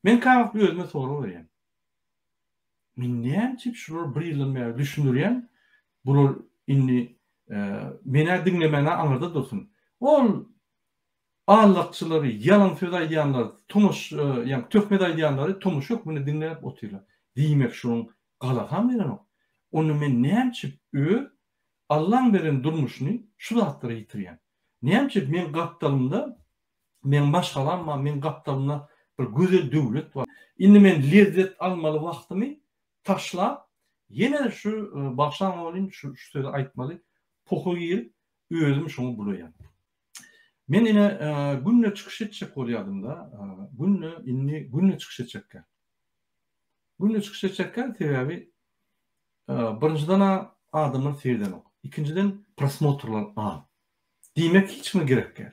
Men käwagt özüme sorag berýän. Men näme üçin şular bir ýyldan bäri düşündirýän, bular indi menä diňlemänä aňyrda dursun. Ol allakçylary, ýalan söz aýdýanlary, tomuş, ýa töhmet aýdýanlary tomuş hökmünde diňläp otyrlar. Diýmek şunuň galakam berenok. Onda men näme üçin öz Allaň beren durmuşyny şu zatlara ýitirýän? Näme üçin men gapdalymda Meň maşgalam bar, meň gapdalymda bir gözel döwlet bar. Indi men lezzet almaly wagtymy taşlap, ýene şu bagşaňa welin şu sözi aýtmaly, poha girip, özüm şoňa bulaýan. Men ine günde çykyş etjek bolýadym-da, günde indi günde çykyş etjekkä. Günde çykyş etjekkä, sebäbi birinjiden-ä adamlar seredenok, ikinjiden prosmotrlar az. Diýmek hiç kime gerek däl.